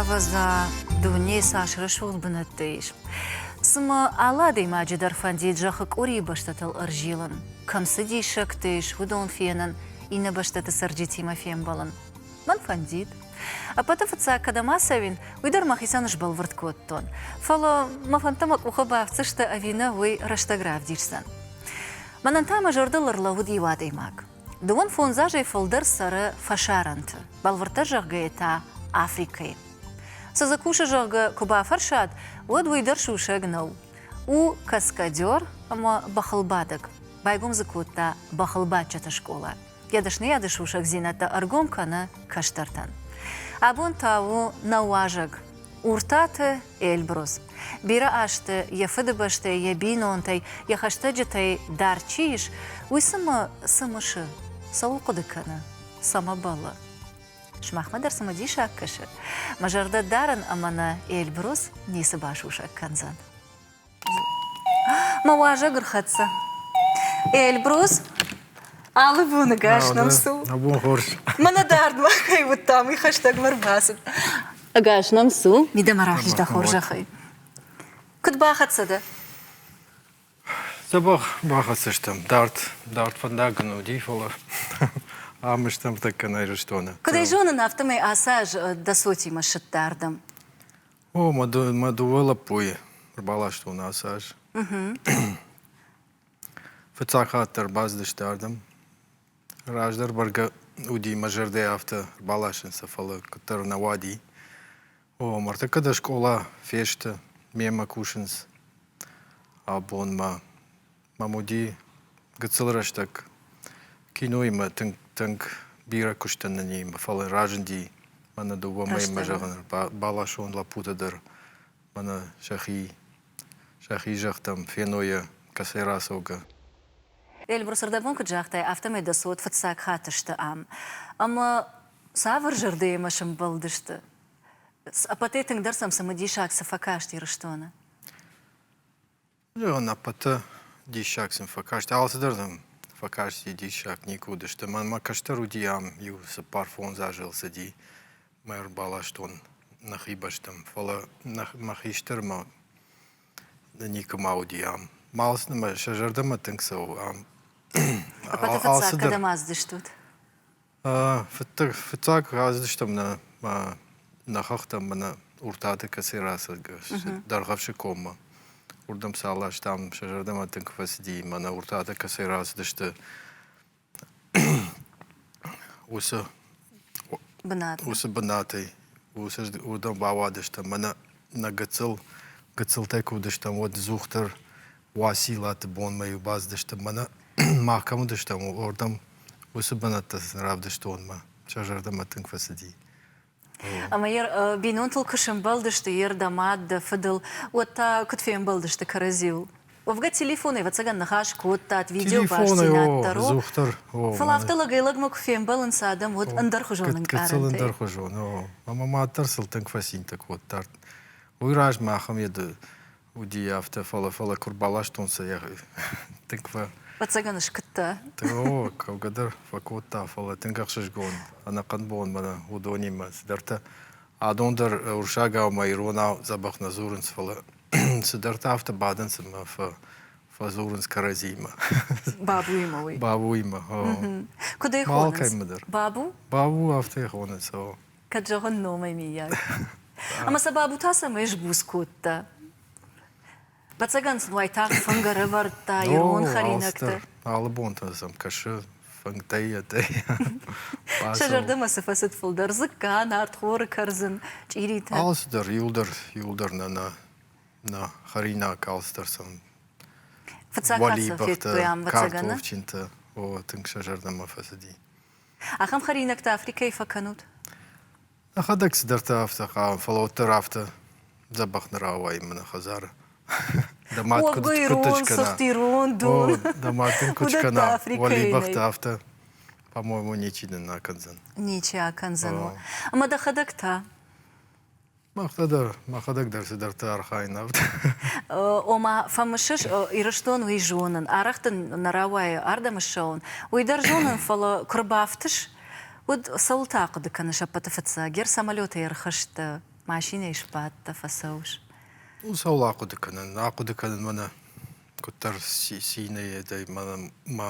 Ӕвӕдза, дунейы цас рӕсугъд бынӕттӕ ис. Цымӕ алы адӕймаджы дӕр фӕндид зӕххы къорийы бӕстӕтыл ӕрзилын? Кӕм цы диссӕгтӕ ис, уыдон фенын, иннӕ бӕстӕты цӕрджытимӕ фембӕлын? Мӕн фӕндид. Ӕппӕты фыццаг, кӕдӕм ацӕуин, уый дӕр мӕхицӕн сбӕлвырд кодтон. Фӕлӕ мӕ фӕндтӕ мӕ къухы бафтдзысты ӕви нӕ, уый рӕстӕг равдисдзӕн. Мӕнӕн та мӕ зӕрдыл ӕрлӕууыд иу адӕймаг. Дыууын фондзазӕй фылдӕр цӕры фӕсарӕнты, бӕлвырддӕр зӕгъгӕйӕ та Африкӕйы. Цы дзы кусы, зӕгъгӕ, куы бафӕрсат, уӕд уый дӕр сусӕг нӕу. У каскадер ӕмӕ бӕхылбадӕг, байгом дзы кодта бӕхылбадджыты скъола. Йӕ дӕсныйады сусӕгдзинӕдтӕ ӕргом кӕны кӕстӕртӕн. Абон та у нӕ уазӕг, Уртаты Эльбрус. Бирӕ азты йӕ фыдыбӕстӕй, йӕ бинонтӕй, йӕ хӕстӕджытӕй дӕр чи ис, уый цымӕ цы мысы? Цӕуыл хъуыды кӕны? Цӕмӕ бӕллы? Сымахмӕ дӕр цымыдисаг кӕсы? Мӕ зӕрдӕ дарын ӕмӕ нӕ Эльбрус ницы басусӕг кӕндзӕн. мӕ уазӕг ӕрхӕццӕ эльбрус алы боныгӕс нӕм цу абон хорз мӕнӕ дардмӕ кӕй уыдтам уый хӕстӕгмӕ рбацыд ӕгас нӕм цу мидӕмӕ рахиз дӕ хорзӕхӕй куыд бахӕццӕ дӕ Цӕбӕх бахӕццӕ стӕм. Дард, дард фӕндаг ын уыди, фӕлӕ ам стӕм тӕккӕ Ирыстоны. Куыд ӕй зонын, афтӕмӕй ацы аз дӕ цотимӕ ссыдтӕ ардӕм. О, мӕ, ды, мӕ дыууӕ лӕппуйы ӕрбаластон ацы аз. Фыццаг хатт дӕр бацыдысты ардӕм. Раздӕр бӕргӕ уыди мӕ зӕрдӕ афтӕ баласын сӕ, фӕлӕ куыддӕр нӕ уади. О, ма ӕртӕккӕ дӕ скъола фесты, мемӕ кусынц абонмӕ. мӕм уыди гыццыл рӕстӕг киноимӕ тынг тынг бирӕ куыстӕн нынимӕ, фӕлӕ разынди мӕнӕ дыууӕ мӕймӕ зӕгъын бӕласон лӕппутӕ дӕр мӕнӕ сӕхи сӕхи зӕхтӕм фенойӕ кӕцӕй рацӕугӕ. Эльбрус ӕрдӕбон куыд загътай, афтӕмӕй дӕ цот фыццаг хатт сты ам. Ӕмӕ цавӕр зӕрдӕйы мӕ сӕмбӕлдысты? Ӕппӕтӕй тынгдӕр сӕм цымыдисаг цы фӕкаст Ирыстоны? Зӕгъын, ӕппӕты диссаг сын фӕкаст. Алцыдӕр сын фӕкасти диссаг, никуы уыдысты. Мӕнмӕ кӕстӕр уыди, ам иу цыппар фондз азы ыл цыди. Мӕ ӕрбаластон нӕхи бӕстӕм, фӕлӕ мӕ хистӕрмӕ никуыма уыди ам. Мал сӕ зӕрдӕмӕ тынг цӕуы ам. Ӕппӕты фыццаг кӕдӕм аздыстут? Фыццаг рацыдыстӕм нӕ нӕ хӕхтӕм мӕнӕ Уртаты кӕцӕй рацыд Дӕргъӕвсы коммӕ. Уырдӕм цал ластам, сӕ зӕрдӕмӕ тынг куы фӕцыди, мӕнӕ Уртатӕ кӕцӕй рацыдысты уыцы уыцы бынатӕй. Уырдӕм бауадыстӕм. Мӕнӕ нӕ гыццыл, гыццылтӕй куы уыдыстӕм, уӕд Дзух дӕр Уациллаты бонмӕ-иу бацыдысты мӕнӕ мах кӕм уыдыстӕм, уырдӕм уыцы бынӕттӕ равдыстонмӕ. Сӕ зӕрдӕмӕ тынг фӕцыди. Ӕмӕ йӕ бинонтыл куы сӕмбӕлдысты йе рдӕ, мад, дӕ фыдыл, уӕд та куыд фембӕлдысты кӕрӕдзиуыл? Уӕвгӕ телефонӕй, ӕвӕццӕгӕн, ныхас кодтат, видеобастдзинад дӕр у. Дохтыр, о. Фӕлӕ афтӕ лӕгӕй-лӕгмӕ куы фембӕлынц адӕм, уӕд ӕндӕрхуызон ӕнкъарӕнтӕй. Ӕндӕрхуызон, о. Ӕмӕ мад дӕр сыл тынг фӕцинтӕ кодта. Уый размӕ ахӕм йӕ Уыди афтӕ, фӕлӕ фӕлӕ куы рбаластонцӕ йӕ тынг фӕ. Ӕцӕгӕн скуыдта? О, кӕугӕ дӕр фӕкодта, фӕлӕ тынг ӕхсызгон ӕнӕхъӕн бон мӕнӕ уыдонимӕ. Цыдӕртӕ адон дӕр урсагау мӕ иронау дзӕбӕх нӕ дзурынц, фӕлӕ цыдӕртӕ афтӕ бадынц ӕмӕ фӕ фӕдзурынц кӕрӕдзиимӕ. Бабуимӕ уый? Бабуимӕ, о. Куыд ӕй хонынц? Алкӕмӕ дӕр. Бабу? Бабу афтӕ йӕ хонынц, о. кӕд зӕгъын номӕй миййаг. Ӕмӕ сӕ бабу та цӕмӕй сбуц кодта? Бӕцӕгӕн сын уайтагъд фынг ӕрӕвӕрдта ирон хӕринӕгты. Алы бонты сӕм кӕсы фынгтӕй ӕдӕй. Сӕ зӕрдӕмӕ цы фӕцыд фылдӕр? Дзыкка, нартхоры кӕрдзын, чъиритӕ. Алцыдӕр иуылдӕр, иуылдӕр нӕ нӕ нӕ хӕринаг алцыдӕр сӕм. Фыццаг хатт сӕм федтой ам, Вӕцӕгӕны? Картофджынтӕ. О, тынг сӕ зӕрдӕмӕ фӕцыди. Ахӕм хӕринӕгтӕ Африкӕйы фӕкӕнут? Нӕхӕдӕг цыдӕртӕ афтӕ хъавы, фӕлӕ уӕддӕр афтӕ дзӕбӕх нӕ рауайын мӕ хӕдзары. Дӕ мад куыд куыд кӕна? Дӕ мад дын куыд скӕна? Уӕлибӕхты афтӕ, по-моему, ничи нын акӕндзӕн. Ничи акӕндзӕн уӕ. Ӕмӕ дӕхӕдӕг та? Махтӕ дӕр, мӕхӕдӕг дӕр цыдӕртӕ архайын авд. Ома, фӕмысыс, Ирыстон уый зонын, арӕх дын нӕ рауайы ардӕм ссӕуын, уый дӕр зонын, фӕлӕ куы рбафтыс, уӕд цӕуыл та хъуыды кӕны сӕппӕты фыццаг? Гер самолетӕй ӕрхызт дӕ, машинӕйы сбадт дӕ, фӕцӕуыс? Цӕуыл ахъуыды кӕнын? Ахъуыды кӕнынмӕ нӕ куыддӕр цинӕй мӕ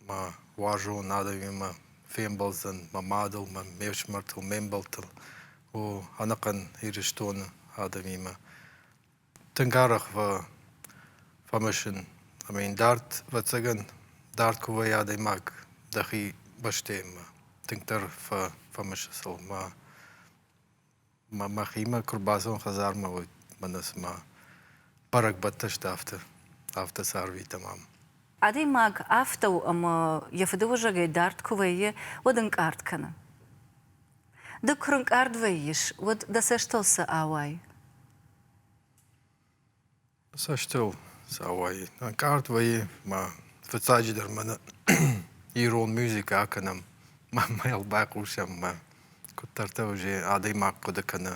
Мӕ уарзон адӕмимӕ фембӕлдзӕн мӕ мадыл, мӕ ме фсымӕртыл, ме мбӕлттыл, о ӕнӕхъӕн Ирыстоны адӕмимӕ. Тынг арӕх фӕ фӕмӕсын ӕмӕ йын дард, ӕвӕццӕгӕн, дард куы вӕййа адӕймаг дӕхи бӕстӕимӕ, тынгдӕр фӕ фӕмысы сыл мӕ мӕхимӕ куы рбацӕуон хӕдзармӕ, уӕд мӕнӕ цыма бӕрӕгбӕттӕ сты, афтӕ, афтӕ сӕ арвитӕм ам. Адӕймаг афтӕ у, ӕмӕ йӕ фыдыуызӕгӕй дард куы вӕййы, уӕд ӕнкъард кӕны. Ды куы рынкъард вӕййыс, уӕд дӕ цӕстыл цы ауайы? Цӕстыл цауайы. Ӕнкъард вӕййы ма фыццаджыдӕр мӕнӕ ирон мюзикы акӕнӕм, ма йыл байхъусӕм, ма куыддӕртӕ уже адӕймаг хъуыды кӕны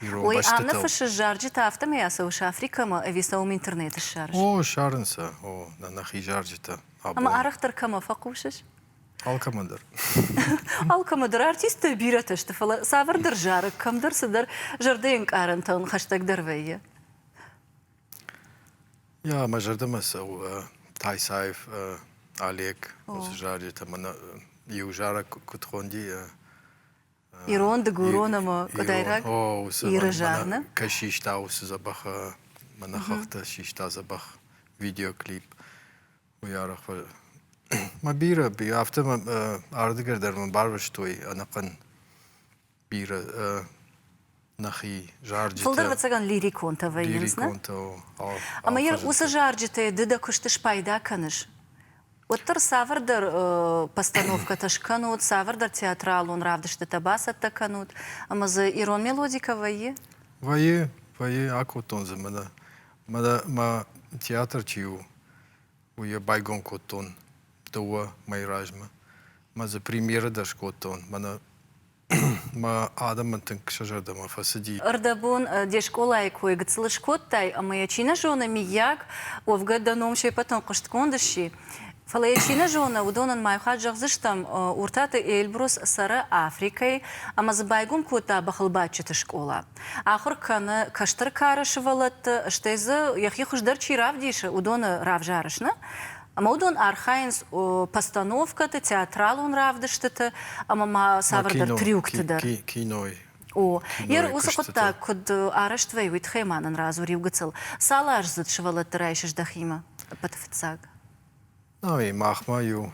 ирон Ой, бӕстӕтыл. Аннӕ фыссы зарджытӕ, афтӕмӕй ацӕуы сӕ Африкӕмӕ ӕви сӕ уым интернеты ссарыс? О, ссарынц сӕ. О, нӕ нӕхи зарджытӕ. Абон. Ӕмӕ арӕхдӕр кӕмӕ фӕхъусыс? Алкӕмӕ дӕр. Алкӕмӕ дӕр артисттӕ бирӕтӕ сты, фӕлӕ цавӕрдӕр зарӕг кӕмдӕр цыдӕр зӕрдӕӕнкъарӕнтӕн хӕстӕгдӕр вӕййы. Jā, mē žardim esmu taisājis Aliek uz žārģietām un jau žārāk kuthondi. Иронды гурон ӕмӕ къуыдайраг Иры жарны. Кӕй систа усы забах, мӕнӕ хахты систа забах видеоклип. Уый арӕх мӕ бирӕ, афтӕ мӕ ардыгӕр дӕр мӕ барвыстой ӕнӕхъӕн бирӕ нӕхи зарджытӕ. Фылдӕр ӕвӕццӕгӕн лириконтӕ вӕййынц, не? Ӕмӕ йӕ уыцы зарджытӕй ды дӕ куысты спайда кӕныс? Уӕддӕр цавӕрдӕр постановкӕтӕ скӕнут, цавӕрдӕр театралон равдыстытӕ бацӕттӕ кӕнут, ӕмӕ дзы ирон мелодикӕ вӕййы? Вӕййы, вӕййы, акодтон дзы мӕнӕ Мӕ театр чи у, уый йӕ байгом кодтон дыууӕ мӕйы размӕ. Мӕ дзы премьерӕ дӕр скодтон. Мӕнӕ мӕ адӕмӕн тынг сӕ зӕрдӕмӕ фӕцыди. Ӕрдӕбон де скъолайы кой гыццыл скодтай ӕмӕ йӕ чи нӕ зоны, миййаг, уӕвгӕ дӕ ном се пӕтӕн хъуыстгонд сси? Фӕлӕ йӕ чи нӕ зоны, уыдон ын мӕй хатт зӕгъдзыстӕм, Уртаты Эльбрус цӕры Африкӕйы ӕмӕ дзы байгом кодта бӕхылбадджыты скъола. Ахуыр кӕны кӕстӕр кары сывӕллӕтты, стӕй дзы йӕхи хуыздӕр чи равдисы, уыдоны равзарыс нӕ? Ӕмӕ уыдон архайынц постановкӕты, театралон равдыстыты ӕмӕ ма цавӕрдӕр трюкты дӕр. Кинойы О, йӕ уыцы хъуыддаг куыд арӕзт вӕй, уый тыххӕй ма нын радзур иу гыццыл. Цал ӕрдзыд сывӕллӕтты райсыс дӕхимӕ, ӕппӕты фыццаг? Ай, махмӕ иу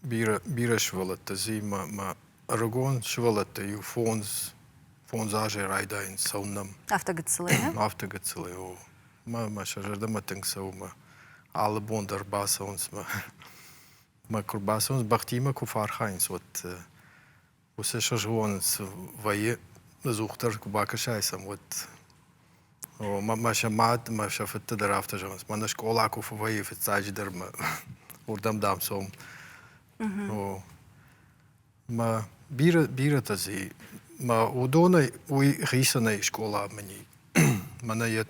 бирӕ, бирӕ сывӕллӕттӕ зыи мӕ, мӕ ӕрыгон сывӕллӕттӕ иу фондз, фондз азӕй райдайынц цӕуын нӕм. Афтӕ гыццылӕй? Афтӕ гыццылӕй, о. Мӕ, мӕ сӕ зӕрдӕмӕ тынг цӕуы мӕ алы бон дӕр бацӕуынц мӕ, мӕ куы рбацӕуынц, бӕхтимӕ куы фӕархайынц, уӕд Уыцы сызгъон вӕййы, ӕдзухдӕр куы бакӕсай сӕм, уӕд. Мӕ сӕ мад, мӕ сӕ фыдтӕ дӕр афтӕ зӕгъынц. Мӕнӕ скъола куы фӕвӕййы фыццаджыдӕр мӕ уырдӕм, дам, цом. Мӕ бирӕ бирӕтӕ дзы мӕ уыдонӕй уый хицӕнӕй скъола мын и. Мӕнӕ йӕ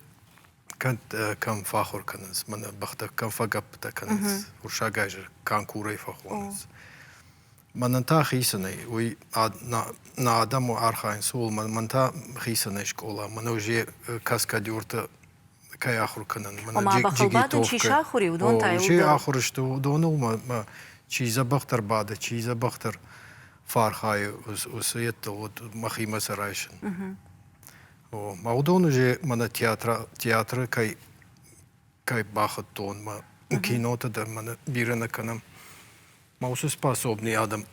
кӕм фӕахуыр кӕнынц, мӕнӕ бӕхтӕ кӕм фӕгӕппытӕ кӕнынц, уырыссагӕй зӕр канкурӕй фӕхонынц. Мӕнӕн та хицӕн ӕй, уый нӕ адӕм архайынц, ууыл мӕн та хицӕн ӕй скъола. Мӕн уже каскадерты кӕй ахуыр кӕнын. Ома бӕхыл бады, чи сахуыр и, уыдон та уыдон. ахуыр сты уыдоныл чи дзӕбӕхдӕр бады, чи дзӕбӕхдӕр фархайы, уыцы йедты уыд мӕхимӕ сӕ райсын. Мӕ уыдон уже мӕнӕ театры кӕй кӕй бахуыдтон, мӕ киноты дӕр мӕнӕ бирӕ нӕ кӕнӕм. мӕ уыцы способный адӕм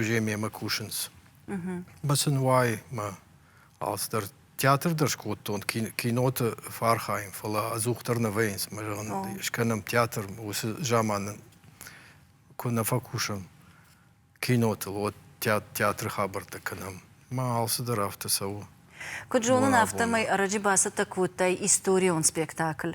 Жемемӕ кусынц. Бацын уайы мӕ алцыдӕр. Театр дӕр скодтон, киноты фархайын, фӕлӕ ӕдзухдӕр нӕ вӕййынц мӕ зӕгъын. Скӕнӕм театр уыцы заманы куы нӕ фӕкусӕм кинотыл, уӕд театры хабӕрттӕ кӕнӕм. Мӕ алцыдӕр афтӕ цӕуы. Куыд зонын, афтӕмӕй ӕрӕджы бацӕттӕ кодтай историон спектакль.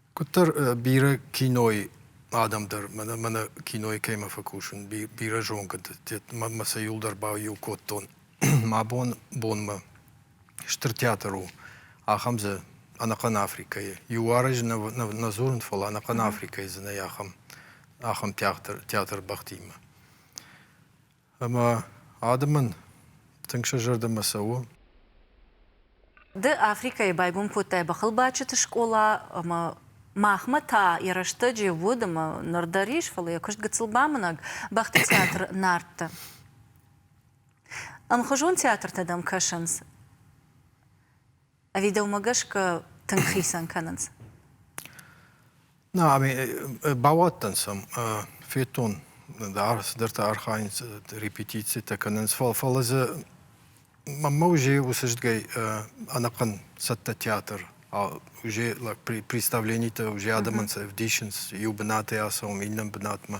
Куыддӕр бирӕ кинойы адӕм дӕр мӕнӕ мӕнӕ кинойы кӕимӕ фӕкусын, бирӕ зонгӕ мӕнмӕ сӕ иуылдӕр баиу кодтон. Мӕ бон бонмӕ стыр театр у ахӕм дзы ӕнӕхъӕн Африкӕйы. Иу аразы нӕ дзурын, фӕлӕ ӕнӕхъӕн Африкӕйы дзынӕй ахӕм ахӕм театр театр бӕхтимӕ. Ӕмӕ адӕмӕн тынг сӕ зӕрдӕмӕ цӕуы. Ды Африкӕйы байгом кодтай бӕхылбадджыты скъола ӕмӕ махмӕ та йӕ рӕстӕджы уыд ӕмӕ ныр дӕр ис, фӕлӕ йӕ куыст гыццыл бамынӕг бӕхты театр Нартты. Ӕмхуызон театртӕ дӕм кӕсынц? Ӕви дӕумӕ гӕсгӕ тынг хицӕн кӕнынц? Нӕ, ами бауадтӕн сӕм, федтон, да, цыдӕртӕ архайынц, репетицитӕ кӕнынц, фӕлӕ дзы мӕнмӕ уже уыцы зыдгӕй ӕнӕхъӕн цӕттӕ театр, уже представленитӕ уже адӕмӕн сӕ ӕвдисынц иу бынатӕй ацӕуын, иннӕ бынатмӕ.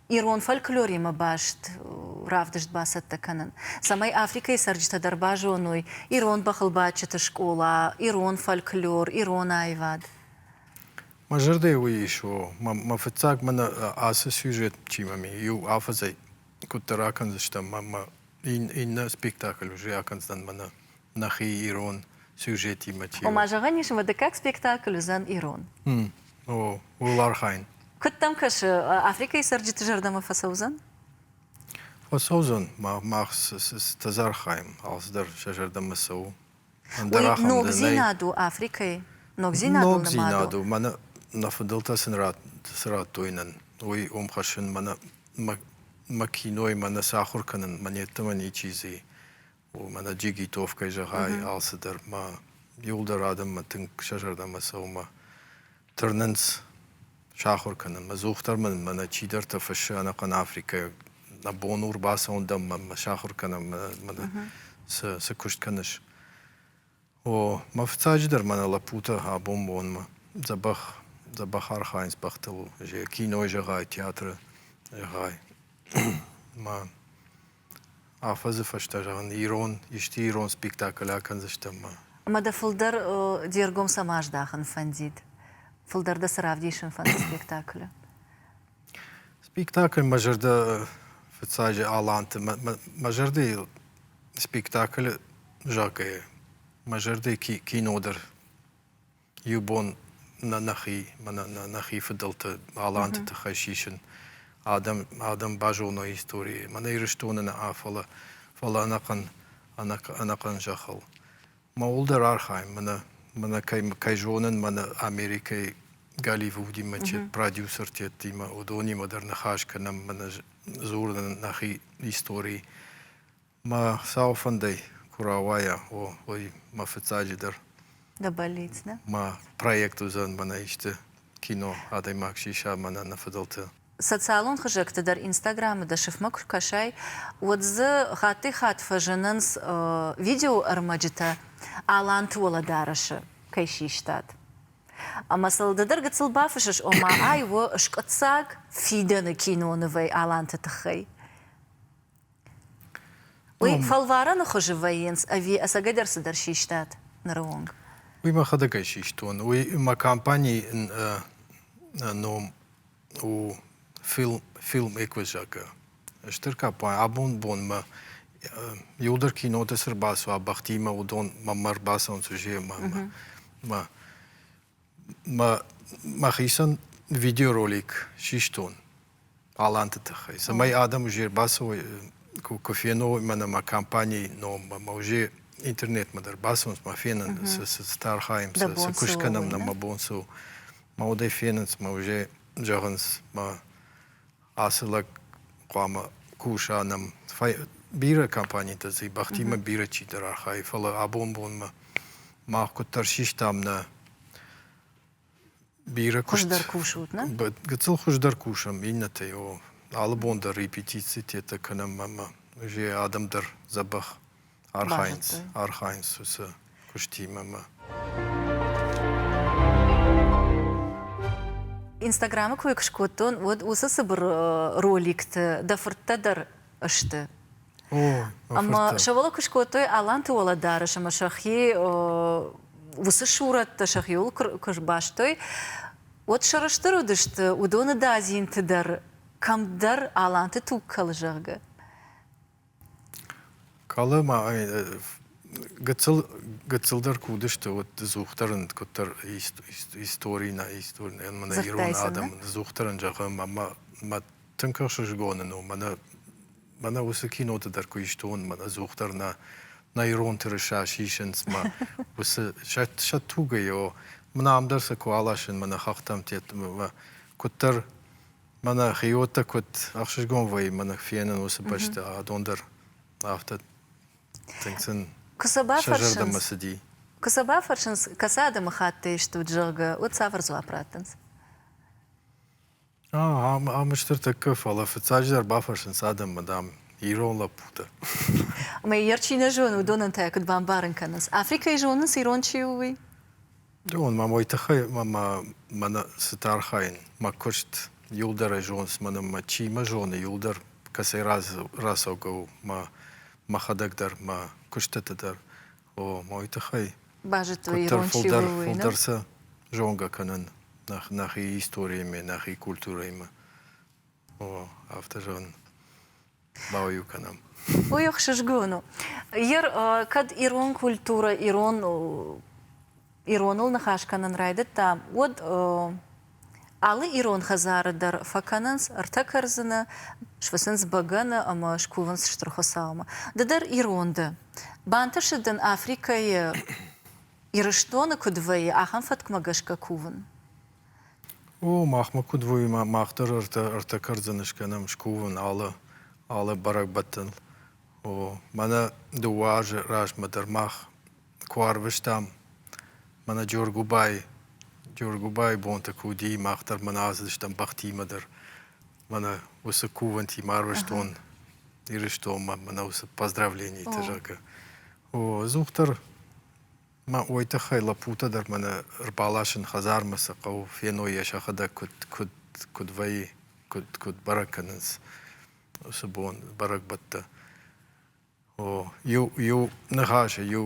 ирон фольклоримӕ баст равдыст бацӕттӕ кӕнын, цӕмӕй Африкӕйы цӕрджытӕ дӕр базоной ирон бӕхылбадджыты скъола, ирон фольклор, ирон аивад. Мӕ зӕрдӕ уый ис, о, мӕ фыццаг мӕнӕ ацы сюжетимӕ ми иу афӕдзӕй куыддӕр акӕндзыстӕм, мӕ иннӕ спектакль уже акӕндзӕн мӕнӕ нӕхи ирон сюжетимӕ темӕ. Ома зӕгъӕн ис ӕмӕ дыккаг спектакль уыдзӕн ирон. О, ууыл архайын. Куыд дӕм кӕсы, Африкӕйы цӕрджыты зӕрдӕмӕ фӕцӕудзӕн? Фӕцӕудзӕн. Мах цытӕ архайӕм, алцыдӕр сӕ зӕрдӕмӕ цӕуы. Ӕндӕр ахӕм ногдзинад у Африкӕйы? Ногдзинадыл ногдзинад у. Мӕнӕ нӕ фыдӕлтӕ цы радтой нӕн, уый уым хӕссын мӕнӕ мӕ кинойы мӕнӕ сахуыр кӕнын мӕн йеддӕмӕ ничи дзы и. Уымӕ нӕ джигитовкӕ зӕгъай, алцыдӕр ма иуылдӕр адӕммӕ тынг сӕ зӕрдӕмӕ цӕуынмӕ тырнынц сахуыр кӕнын. Мӕ дзух дӕр мын мӕнӕ чидӕртӕ фыссы ӕнӕхъӕн африкӕйаг, нӕ бон у рбацӕуын дӕм, мӕ сахуыр кӕнӕм, мӕ, мӕнӕ цы, цы куыст кӕныс? О, мӕ фыццаджыдӕр мӕнӕ лӕппутӕ абон бонмӕ дзӕбӕх, дзӕбӕх архайынц бӕхтыл, зӕ кинойы зӕгъай, театры зӕгъай. Ма афӕдзы фӕстӕ зӕгъын, ирон, исчи ирон спектакль акӕндзыстӕм ма. Ӕмӕ дӕ фылдӕр де ргом цӕмӕ аздахын фӕндид? Фылдӕр дӕ цы равдисын фӕнды спектаклы? Спектакль мӕ зӕрдӕ фыццаджы Аланты мӕ мӕ зӕрдӕйыл спектаклы загӕйӕ мӕ зӕрдӕйы ки кино дӕр иу бон нӕ нӕхи мӕнӕ нӕ нӕхи фыдӕлты Аланты тыххӕй сисын адӕм адӕм базоной историйы мӕнӕ Ирыстоны нӕ фӕлӕ фӕлӕ ӕнӕхъӕн ӕнӕхъӕн зӕххыл. Мауылдӕр архайын мӕнӕ мӕнӕ кӕй кӕй зонын мӕнӕ Америкӕйы Голливудимӕ чи продюсертӕттимӕ уыдонимӕ дӕр ныхас кӕнӕм мӕнӕ дзурын нӕхи историйы. Мӕ сау фӕндӕй куы рауайа, о, уый мӕ фыццаджыдӕр. Дӕ бӕллиц, нӕ? Мӕ проект уыдзӕн мӕнӕ исты Кино, адӕймаг сиса мӕнӕ нӕ фыдӕлты. Социалон хызӕгты дӕр Инстаграмы дӕ сыфмӕ куы ркӕсай, уӕд дзы хаттӕй-хатт фӕзынынц видеоӕрмӕджытӕ, Аланты уӕлӕдарӕсы кӕй систат. Ӕмӕ сыл ды дӕр гыццыл бафыссыс, ома ай у скъуыддзаг фидӕны кинонывӕй Аланты тыххӕй. Уый фӕлварӕны хуызы вӕййынц ӕви ӕцӕгӕйдӕр цыдӕр систат ныры онг? Уый мӕхӕдӕгӕй систон. Уый мӕ компанийы ном у Film, Film Equizak-ы стыр компани. Абон бонмӕ иуылдӕр киноты цы рбацуа бӕхтимӕ, уыдон мӕмӕ ӕрбацӕуынц Жемӕмӕ. мӕхицӕн видеоролик систон аланты тыххӕй, цӕмӕй адӕм уже ӕрбацӕуой куы феной мӕнӕ мӕ компанийы номмӕ, мӕ уже интернетмӕ дӕр бацӕуынц, мӕ фенын, цы архайӕм, цы куыст кӕнӕм нӕ мӕ бон цы у. Мӕ удӕй фенынц, мӕ уже зӕгъынц, мӕ Ацы лӕг хъуамӕ куса нӕм. Бирӕ компанитӕ дзы бӕхтимӕ бирӕ чидӕр архайы, фӕлӕ абон бонмӕ мах куыддӕр систам нӕ бирӕ куыст. Хуыздӕр кусут, нӕ? Гыццыл хуыздӕр кусӕм иннӕтӕй, о. Алы бон дӕр репетицитетӕ кӕнӕм ӕмӕ адӕм дӕр дзӕбӕх архайынц, архайынц уыцы куыстимӕ мӕ. Инстаграмы куы скодтон, уӕд уыцы цыбыр роликты дӕ фырттӕ дӕр сты. Ӕмӕ сӕ уӕлӕ куы скодтой Аланты уӕлӕдарӕс ӕмӕ сӕхи уыцы сурӕттӕ сӕхиуыл куы сбастой, уӕд сӕрыстыр уыдысты уыдоны дадзинты дӕр, кӕмдӕр Аланты туг кӕлы, зӕгъгӕ. Калы ма гыццыл гыццылдӕр куы уыдысты, уӕд дызухдӕр рынд куыддӕр истори нӕ истори нӕ мӕнӕ ирон адӕм дызухдӕрӕн зӕгъӕм ӕмӕ мӕ тынг ӕхсызгоны ну мӕнӕ мӕнӕ уыцы киноты дӕр куы исты уон мӕнӕ ӕдзухдӕр нӕ нӕ ирон тырыса сисынц мӕ уыцы сӕ тугӕй о мӕнӕ ам дӕр сӕ куы аласын мӕнӕ хӕхтӕм тедтмӕ куыддӕр Мӕнӕ хиоттӕ куыд ӕхсызгонвӕййы мӕнӕ фенын уыцы бӕсты адон дӕр. Афтӕ тынг сын Куы сӕ сӕ бафӕрсынц, зӕрдӕмӕ цыди. куы сӕ бафӕрсынц, кӕцы адӕмыхатты стут, зӕгъгӕ, уӕд цавӕр дзуапп раттынц? А, ам, ам стыр тӕккӕ, фӕлӕ фыццаджыдӕр бафӕрсынц адӕммӕ, дам, ирон лӕппутӕ. Ӕмӕ йӕ чи нӕ зоны, уыдонӕн та куыд бамбарын кӕнынц, Африкӕйы зонынц, ирон чи у, уый? Уон ма уой туххӕй мӕ мӕнӕ цитӕ архайын. Мӕ куст иулдӕрӕй зонс мӕнӕн мӕ чи мӕ зоны иулдӕр, кӕцӕй рацӕугӕ у мӕхӕдӕг дӕр, мӕ кустӕтӕ дӕр. О, ма уой туххӕй базыдтой ирон чи у, уый, нӕ? фулдӕр сӕ зонгӕ кӕнын нӕхи историйӕмӕ, нӕхи культурӕимӕ. О, афтӕ зӕгъын ма иу кӕнӕм. Уый ӕхсызгон у. Ер кӕд ирон культурӕ ирон ироныл ныхас кӕнын райдыдта, уӕд алы ирон хӕдзары дӕр фӕкӕнынц ӕртӕ кӕрдзыны, сфыцынц бӕгӕны ӕмӕ скувынц Стыр Хуыцаумӕ. Ды дӕр ирон дӕ. Бантысы дын Африкӕйы, Ирыстоны куыд вӕййы, ахӕм фӕткмӕ гӕсгӕ кувын? О, махмӕ куыд вӕййы, мах дӕр ӕртӕ кӕрдзыны скӕнӕм, скувын алы алы бӕрӕгбӕттӕн. О, мӕнӕ дыууӕ азы размӕ дӕр мах куы арвыстам мӕнӕ Джоргуыбайы. Джоргуыбайы бонтӕ куы уыди, мах дӕр мӕнӕ аздыстӕм бӕхтимӕ дӕр. Мӕнӕ уыцы кувӕнтимӕ арвыстон Ирыстонмӕ мӕнӕ уыцы поздравленитӕ, зӕгъгӕ. О, ӕдзухдӕр Мӕ уой тыххӕй лӕппутӕ дӕр мӕнӕ ӕрбаласын хӕдзармӕ цы хъӕуы, феной йӕ сӕхӕдӕг куыд, куыд, куыд вӕййы, куыд, куыд бӕрӕг кӕнынц уыцы бон, бӕрӕгбӕттӕ. О, иу, иу ныхасы, иу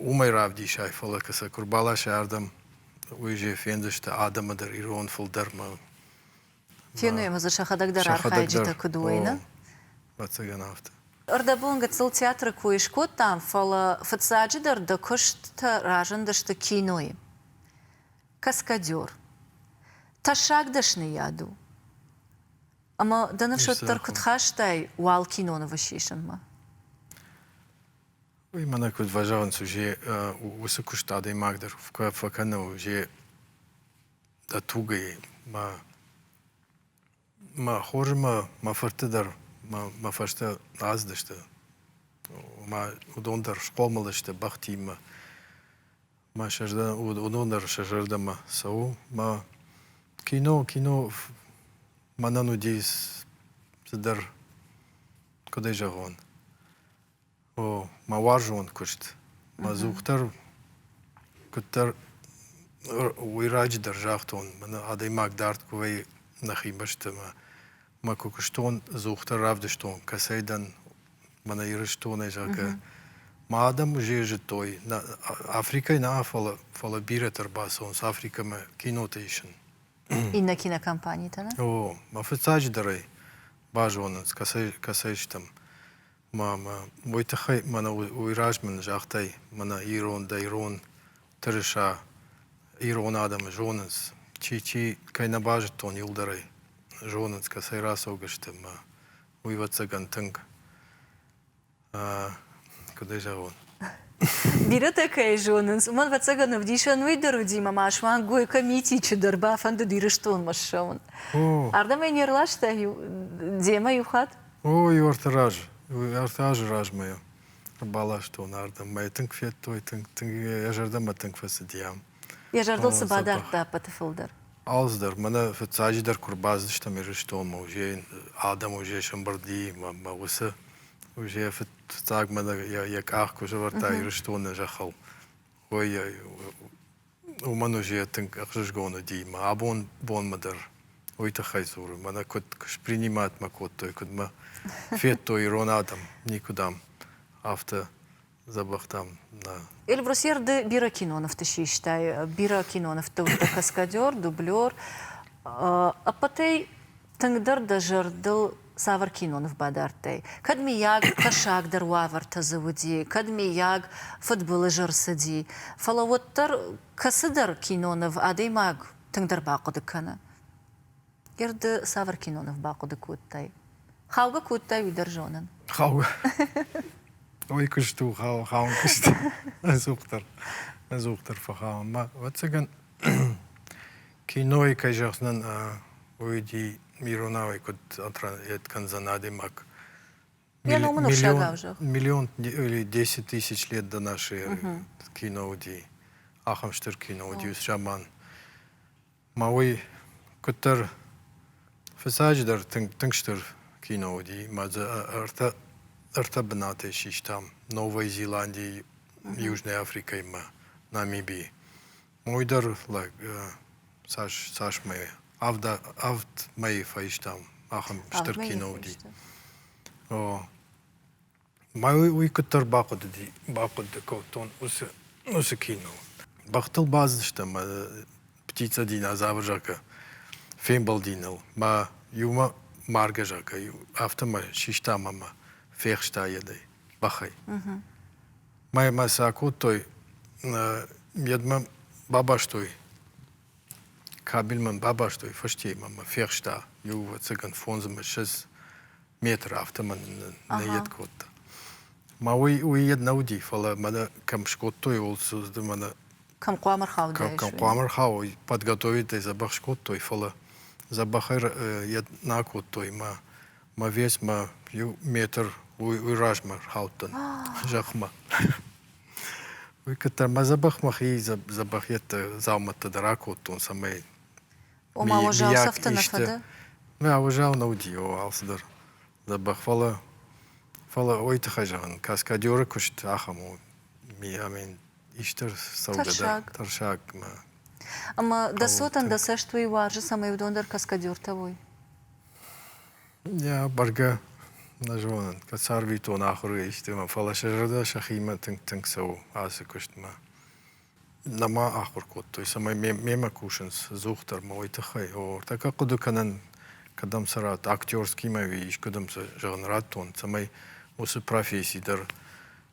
уымӕй равдисай, фӕлӕ куы сӕ куы ӕрбаласай ардӕм, уый же фендзысты адӕмы дӕр, ирон фылдӕрмӕ. Фенуемӕ дзы сӕхӕдӕг дӕр архайджытӕ куыд уойнӕ? Ӕвӕццӕгӕн афтӕ. Ӕрдӕбон гыццыл театры кой скодтам, фӕлӕ фыццаджыдӕр дӕ куысттӕ разындысты кинойы. Каскадер. Тӕссаг дӕсныйад у. Ӕмӕ дӕ ныфс уӕддӕр куыд хастай уал кинонывы сисынмӕ? Уый мӕнӕ куыд фӕзӕгъынц, узе уыцы куыст адӕймаг дӕр фӕкӕны, узе дӕ тугӕй. Мӕ мӕ хорзы мӕ мӕ фырты дӕр мӕ мӕ фӕстӕ аздысты. Омӕ уыдон дӕр схъомыл сты бӕхтимӕ. Мӕ сӕ зӕрдӕ уыдон дӕр сӕ зӕрдӕмӕ цӕуы. Мӕ кино, кино мӕнӕн уыди цыдӕр, куыд ӕй зӕгъон, О, мӕ уарзон куыст, мӕ дзух дӕр куыддӕр уый раджыдӕр загътон, мӕнӕ адӕймаг дард куы вӕййы нӕхи бӕстӕмӕ. Мӕ куы куыстон, дзух дӕр равдыстон, кӕцӕй дӕн мӕнӕ Ирыстонӕй, зӕгъгӕ. Мӕ адӕм уызӕй зыдтой, нӕ Африкӕйы нӕ, фӕлӕ фӕлӕ бирӕтӕ ӕрбацӕуынц Африкӕмӕ кинотӕ исын. Иннӕ кинокомпанитӕ нӕ? О, мӕ фыццаджыдӕрӕй базонынц, кӕцӕй, кӕцӕй стӕм. Мамӕ, уый тыххӕй мӕнӕ уый размӕ ын загътай, мӕнӕ ирондӕй ирон тырыса, ирон адӕмы зонынц, чи чи, кӕй нӕ базыдтон иуылдӕрӕй, зонынц, кӕцӕй рацӕугӕ сты мӕ уйвӕццӕгӕн тынг, куыд ӕй зӕгъон? Бирӕтӕ кӕй зонынц, уымӕн, ӕвӕццӕгӕн, ӕвдисӕн уый дӕр уыди, мӕ ма суанг Гойкӕ Митичы дӕр бафӕндыд Ирыстонмӕ ссӕуын. Ардӕм ӕй не рласта иу, демӕ иу хатт. О, иу ӕртӕ раз, ӕртӕ азы размӕ йӕ баластон ардӕм. Мӕ тынг федтой, тынг, тынг йӕ зӕрдӕмӕ тынг фӕцыд йӕм. Йӕ зӕрдыл цы бадардта ӕппӕты фылдӕр? Алцыдӕр. Мӕнӕ фыццаджыдӕр куы рбацыдыстӕм Ирыстонмӕ, уызӕй адӕм уызӕй сӕмбырди, мӕ усы уызӕ фыццаг мӕнӕ йӕ къах куы сӕвӕрдта Ирыстоны зӕххыл, ой, Уымӕн уыди йӕ тынг ӕхсызгон уыди мӕ абон бонмӕ дӕр уый тыххӕй дзуры, мӕнӕ куыд с приниматмӕ кодтой, куыд мӕ федтой ирон адӕм, никуыдам афтӕ дзӕбӕхтӕм нӕ. Эльбрусер ды бирӕ кинонывты систай, бирӕ кинонывты уыдтӕ каскадер, дублер, ӕппӕтӕй Тынгдӕр дӕ зӕрдыл цавӕр киноныв бадардтай? Кӕд, мыййаг, тӕссагдӕр уавӕртӕ дзы уыди, кӕд, мыййаг, фыдбылыз ӕрцыди. Фӕлӕ уӕддӕр кӕцыдӕр киноныв адӕймаг тынгдӕр бахъуыды кӕны. Ирды цавӕр киноныв бахъуыды кодтай? Хаугӕ кодтай, уый дӕр зонын. Хаугӕ. Ой, куыст у, хау, хаун куыст. Ӕдзухдӕр, ӕдзухдӕр фӕхауын. Ӕвӕццӕгӕн, Кинойы, кӕй зӕгъдзынӕн, уый уыди иронауӕй куыд отравят кӕндзӕн адӕймаг. Миллион или десять тысяч лет до нашей эры кино уыди. Ахӕм стыр кино уыди уыцы заман. Мӕ уый куыддӕр фыцаджыдӕр тынг тынг стыр кино уыди. Мӕ дзы ӕртӕ ӕртӕ бынатӕй систам Новой Зеландийы, Южной Африкӕимӕ, Намибийы. Уый дӕр лӕг цас цасмӕ авд мӕйы фӕистам, ахӕм стыр кино уыди. О, мӕ уый куыддӕр бахъуыдыди, бахъуыды кодтон уыцы уыцы кино. Бӕхтыл бадзыстӕм мӕ птица динозавр зӕгъгӕ фембӕлди ныл. Мӕ иумӕ маргӕ зӕгъгӕ афтӕ мӕ систа ӕмӕ фехста йӕ бӕхӕй. Мӕй мӕ цы акодтой, едмӕ бабастой, кабель мӕм бабастой, фӕстейы мӕ фехста иу, ӕцӕгӕн, фондз ӕмӕ шесть метры афтӕмӕн нӕ ед кодта. Ма уый, уый ед нӕ уыди, фӕлӕ мӕнӕ кӕм скодтой Олдсуды мӕнӕ Кӕм хъуамӕ рхаудаис? Кӕм хъуамӕ рхауой, подготовить ӕй, дзӕбӕх скодтой, фӕлӕ дзӕбӕхӕй йед нӕ акодтой, мӕ Мӕ весмӕ иу метр уый размӕ рхаудтӕн зӕхмӕ. Уый куыдта мӕ дзӕбӕх мӕхи дзӕбӕх йедты дзаумӕттӕ дӕр акодтон, цӕмӕй Ома уазалцӕфты нӕ фӕды? Нӕ, уазал нӕ уыди алцыдӕр дзӕбӕх, фӕлӕ фӕлӕ уый тыххӕй зӕгъын, каскадеры куыст ахӕм у, амин исты цӕугӕ тӕрсаг ӕмӕ. Ӕмӕ дӕ цотӕн дӕ цӕст уый уарзы, цӕмӕй уыдон дӕр каскадертӕ уой? Йа, бӕргӕ нӕ зонын, кӕд царвитон ахуыргӕ истемӕ, фӕлӕ сӕ зӕрдӕ сӕхимӕ тынг-тынг цӕуы ацы куыстмӕ. Нӕма ахуыр кодтой, цӕмӕй мемӕ кусынц здух дӕр ма уый тыххӕй. О, тӕккӕ хъуыды кӕнӕн, кӕдӕм цы радт, актерскимӕ ӕви искуыдӕм цы зӕгъын радтон, цӕмӕй уыцы професси дӕр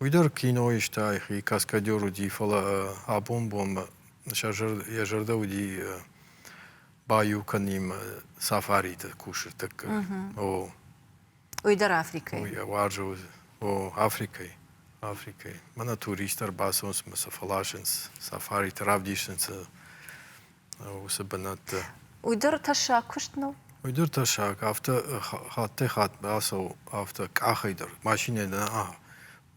Уый дӕр кинойы сты айхи, каскадер уыди, фӕлӕ абон бонмӕ сӕ зӕрдӕ, йӕ зӕрдӕ уыди баиу кӕнин сафариты кусы тӕккӕ. О. Уый дӕр Африкӕйы? Уый уарзы уыд. О, Африкӕйы. Африкӕйы. Мӕнӕ туристтӕ ӕрбацӕуынц мӕ сӕ фӕласынц, сафариты равдисынц уыцы бынӕтты. Уый дӕр тӕссаг куыст нӕу? Уый дӕр тӕссаг, афтӕ хаттӕй-хатт бацӕуы афтӕ къахӕй дӕр, машинӕйы дӕр.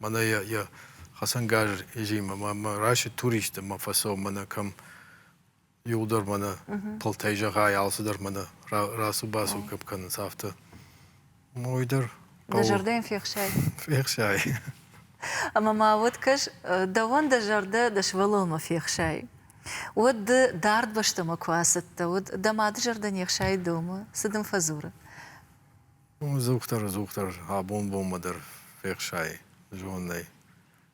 Мӕнӕ йӕ йӕ хӕцӕнгарз изимӕ мӕ райсы туристты, мӕ фӕцӕуы мӕнӕ кӕм иуылдӕр мӕнӕ тылтӕй зӕгъай, алцыдӕр мӕнӕ рацу-бацу кӕм кӕнынц, афтӕ. Мой дӕр хъӕуы. Дӕ зӕрдӕйӕн фехсай. Фехсай. Ӕмӕ ма уӕд кӕс, дӕуӕн дӕ зӕрдӕ дӕ сывӕллонмӕ фехсайы. Уӕд ды дард бӕстӕмӕ куы ацӕттӕ уыд, дӕ мады зӕрдӕ не хсайы домы, цы дын фӕдзуры? Уым дзухдӕр-дзухдӕр абон-бонмӕ дӕр фехсайы зонӕй.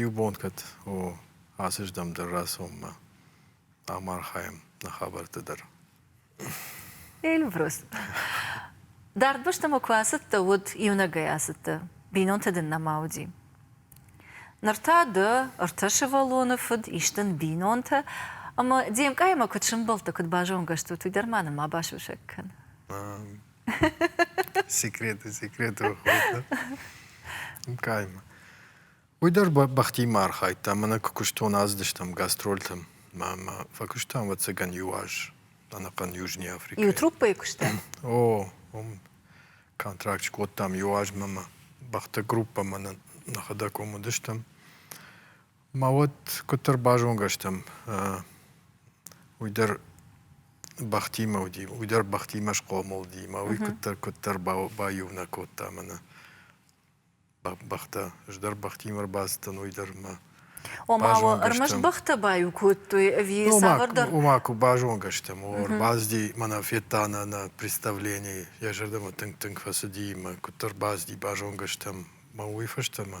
Иу бон кӕд у ацыздӕм дӕр рацӕуынмӕ, ам архайӕм нӕ хабӕртты дӕр. Эльбрус, дард бӕстӕмӕ куы ацыдтӕ, уӕд иунӕгӕй ацыдтӕ, бинонтӕ дын нӕма уыди. Ныр та дӕ ӕртӕ сывӕллоны фыд исдын бинонтӕ, ӕмӕ де мкъаймӕ куыд сӕмбӕлдтӕ, куыд базонгӕ стут, уый дӕр ма нырма басусӕг кӕн. секреты секреты каймӕ уый дӕр бӕхтимӕ архайдта мӕнӕ куы куыстон аздыстӕм гастрольтӕм мӕ фӕкуыстам ӕвӕццӕгӕн иу аз ӕнӕхъӕн южный африкӕйы иу труппӕйы куыстам о уым контракт скодтам иу азмӕ мӕ бӕхты группӕ мӕнӕ нӕхӕдӕг уым уыдыстӕм Ма уӕд куыддӕр базонгӕ стӕм, уый дӕр бӕхтимӕ уыди, уый дӕр бӕхтимӕ схъомыл уыди, ӕмӕ уый куыддӕр, куыддӕр баиунӕг кодта мӕнӕ бӕхтӕ. Ӕз дӕр бӕхтимӕ ӕрбацыдтӕн, уый дӕр ма ома ӕрмӕст бӕхтӕ баиу кодтой ӕви цавӕрдӕр? Ома куы базонгӕ стӕм, о, ӕрбацыди, мӕнӕ федта нӕ нӕ представлени, йӕ зӕрдӕмӕ тынг-тынг фӕцыди, ӕмӕ куыддӕр бацыди, базонгӕ стӕм, ӕмӕ уый фӕстӕ ма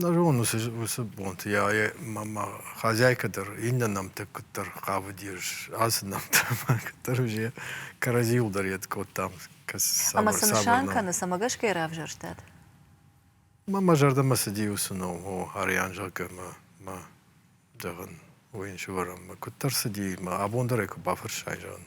Нӕ зонын уыцы уыцы бонты йӕ йӕ мӕ мӕ хозяйкӕ дӕр иннӕ нӕмттӕ куыддӕр хъавыд йе ацы нӕмттӕ кӕддӕр уызе кӕрӕдзийыл дӕр йед кодтам ӕмӕ цы нысан кӕны цӕмӕ гӕсгӕ йӕ равзӕрстат мӕ мӕ зӕрдӕмӕ цыди уыцы ном о арӕн зӕгъгӕ мӕ мӕ зӕгъын уый ын сывӕрӕм куыддӕр цыди мӕ абон дӕр ӕй куы бафӕрсай зӕгъын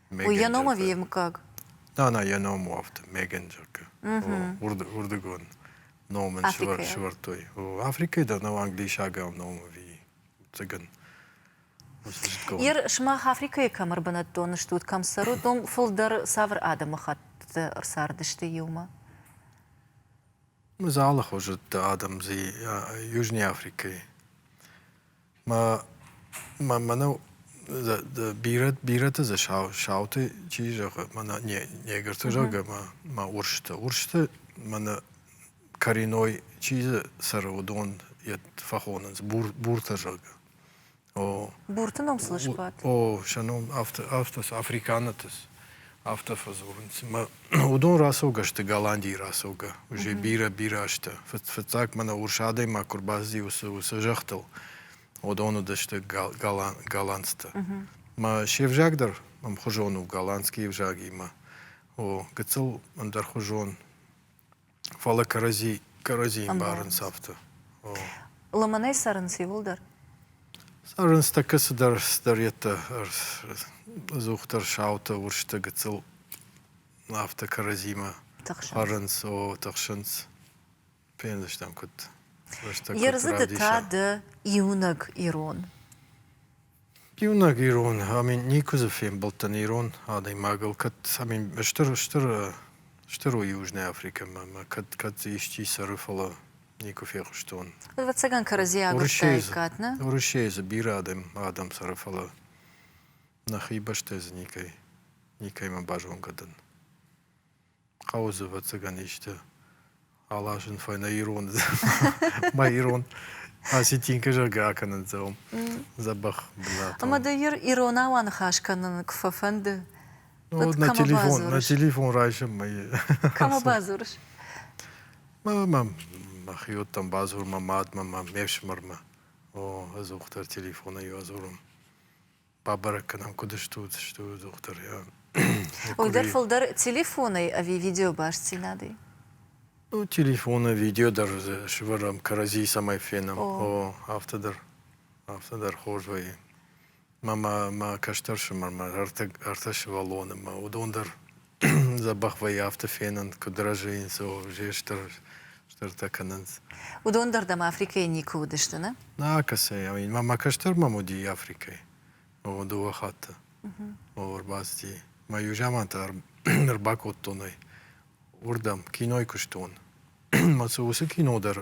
Уый йӕ ном ӕви йе мыггаг? Да, нӕ йӕ ном у афтӕ, Мегенджерка. Уырдыгон ном ын сывӕрдтой. Африкӕйы дӕр нӕу англисагау ном ӕви уццагӕн. Ир, сымах Африкӕйы кӕм ӕрбынӕттон стут, кӕм цӕрут, уым фылдӕр цавӕр адӕмыхӕттты ӕрцардысты иумӕ? Мы алы хуызы адӕм Южный Африкӕйы Ма мӕнӕу бирӕ бирӕты дзы сауты чи зӕгъы мӕнӕ негрты зӕгъгӕ ма урсты. Урсты мӕнӕ кореной чи дзы цӕры, уыдон йӕ фӕхонынц буртӕ зӕгъгӕ. О. Бурты ном слышбат? О, сӕ ном афтӕ афтӕ африканӕты. Афтӕ фӕдзурынц, ӕмӕ уыдон рацӕугӕ сты Голландийы рацӕугӕ. Уже бирӕ-бирӕ азтӕ. Фыццаг мӕнӕ урс адӕймаг куы рбацыди уыцы уыцы зӕххтыл, уыдон уыдысты голландцтӕ. Мӕ се взаг дӕр ӕмхуызон у голландскийы взагимӕ. О, гыццыл ӕндӕрхуызон Фӕлӕ кӕрӕдзи, кӕрӕдзийы мбарынц афтӕ. Лымӕнӕй цӕрынц иуылдӕр? Цӕрынц тӕккӕ цыдӕр сдӕреттӕ, ӕдзухдӕр саутӕ, уырзтӕ, гыццыл. Афтӕ кӕрӕдзимӕ хъарынц, о, тыхсынц. Фендзыстӕм, куыд рӕстӕг Ердзыды та ды иунӕг ирон. Иунӕг ирон, ами никуы дзы фембӕлдтӕн ирон адӕймагыл, кӕд ами стыр, стыр, стыр у Южная Африкӕмӕ мӕ кӕд, кӕд дзы исчи цӕры, фӕлӕ никуы фехъуыстон. Ӕвӕццӕгӕн кӕрӕдзийӕ агуырдтаиккат, нӕ? Уӕрӕсейы дзы бирӕ адӕм, адӕм цӕры, фӕлӕ нӕхи бӕстӕ дзы никӕй, никӕймӕ базонгӕ дӕн. хъӕуы дзы ӕвӕццӕгӕн исты аласын фӕйнӕ ироны мӕ ирон осетинкӕ зӕгъгӕ акӕнындзӕуӕм дзӕбӕх бынат ӕмӕ дӕ иронау аныхас кӕнын куы фӕфӕнды на телефон на телефон райсӕм мӕ кӕмӕ бадзурыс мӕм мӕхиоттӕм бадзур мӕ мадмӕ мӕ ме фсымӕрмӕ о ӕдзухдӕр телефонӕй ӕдзурын бабӕрӕг кӕнӕм, куыд стут, стут, дохтыр. Уый дӕр фылдӕр телефонӕй ӕви видеобастдзинадӕй? Ну, телефоны, видео дӕр сывӕрӕм, кӕрӕдзийы цӕмӕй фенӕм. О, афтӕ дӕр, афтӕ дӕр хорз вӕййы. Мӕ мӕ кӕстӕр ӕфсымӕр, мӕ ӕртӕ ӕртӕ сывӕллоны, мӕ уыдон дӕр Дзӕбӕх вӕййы афтӕ фенын, куыд рӕзыйынц, уже стыр стыртӕ кӕнынц. Уыдон дӕр дӕм Африкӕйы никуы уыдысты, нӕ? Нӕ, кӕцӕй? Мӕ кӕстӕр мӕм уыди Африкӕйы. О, дыууӕ хатты. О, ӕрбацыди. Мӕ иу заман та ӕрбакодтон ӕй уырдӕм, кинойы куыстон. Уыцы кино дӕр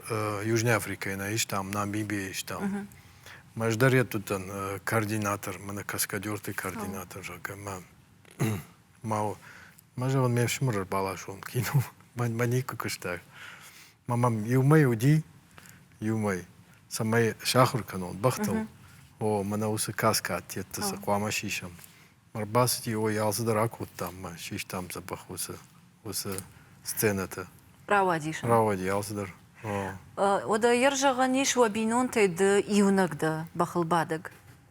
Южной Африкӕйы нӕ истам, Намибийӕ истам. Мӕ ӕз дӕр йеддӕттӕн координатор, мӕнӕ каскадерты координатор, зӕгъгӕ, мӕ ма ма зӕгъын ме фсымӕр ӕрбаласон кино мӕ никуы куыста ма мӕм иумӕ уыди иумӕ цӕмӕй сахуыр кӕнон бӕхтыл о мӕнӕ уыцы каска аттетты цы хъуамӕ сисӕм ӕрбацыди ой алцыдӕр акодтам ма систам дзӕбӕх уыцы уыцы сценӕты рауадис рауади алцыдӕр о уӕдӕ йӕ зӕгъӕн ис уӕ бинонтӕй ды иунӕг дӕ бӕхылбадӕг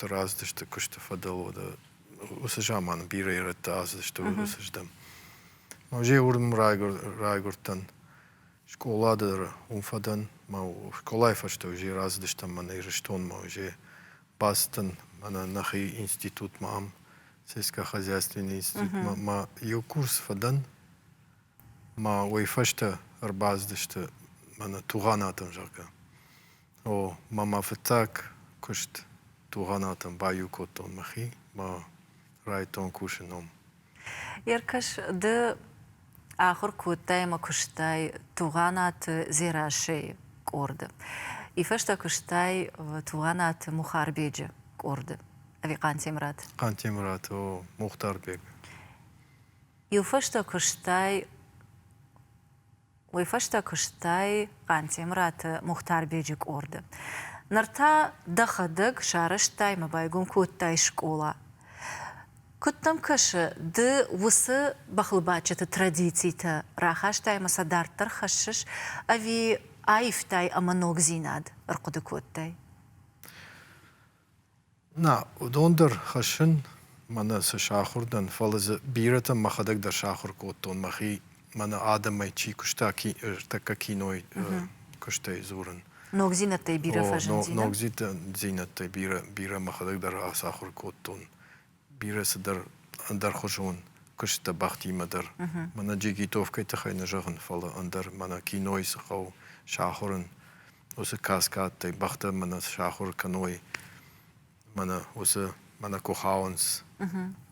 равдысты куысты фӕдыл уыцы заманы бирӕ ирӕттӕ ацыдысты уырдӕм. Ма узе уырдым райгуырдтӕн скъолады уым фӕдӕн, ма скъолайы фӕстӕ узе рацыдыстӕм мӕнӕ Ирыстонмӕ, узе бацыдтӕн мӕнӕ нӕхи институтмӕ, ам сельскохозяйственный институтмӕ, ма иу курс фӕдӕн, ма уый фӕстӕ ӕрбацыдысты мӕнӕ Тугъанатӕм, зӕгъгӕ. О, ма мӕ фыццаг куыст Тугъанатӕм баиу кодтон мӕхи, мӕ райдтон кусы ном. Еркаш, ды ахуыр кодтай ӕмӕ куыстай Тугъанаты Дзерассӕйы къорды. Ифӕстӕ куыстай Тугъанаты Мухарбеджы къорды. Ӕви Хъантемырат? Хъантемырат, о, Мухтарбег. Иу фӕстӕ куыстай уый фӕстӕ куыстай Хъантемыраты Мухтарбеджы къорды. Ныр та дӕхӕдӕг сарӕзтай мӕ байгом кодтай скъола. Куыд дӕм кӕсы, ды уыцы бӕхлыбадджыты традицитӕ рахастай ӕмӕ сӕ дарддӕр хӕссыс ӕви аивтай ӕмӕ ногдзинад ӕрхъуыды кодтай? Нӕ, уыдон дӕр хӕссын мӕнӕ цы сахуыр дӕн, фӕлӕ дзы бирӕтӕн мӕхӕдӕг дӕр сахуыр кодтон, мӕхи мӕнӕ адӕмӕй чи куыста, ки, ӕртӕккӕ кинойы куыстӕй дзурын. Ногдзинӕдтӕй бирӕ фӕзындзинӕ? Ногдзинӕдтӕй бирӕ, бирӕ мӕхӕдӕг дӕр ацахуыр кодтон. Бирӕ цыдӕр ӕндӕрхуызон куысттӕ бӕхтимӕ дӕр. Мӕнӕ джигитовкӕйы тыххӕй нӕ зӕгъын, фӕлӕ ӕндӕр мӕнӕ кинойы цы хъӕуы сахуырын, уыцы каскадтӕй бӕхтӕ мӕнӕ сахуыр кӕной мӕнӕ уыцы мӕнӕ куы хауынц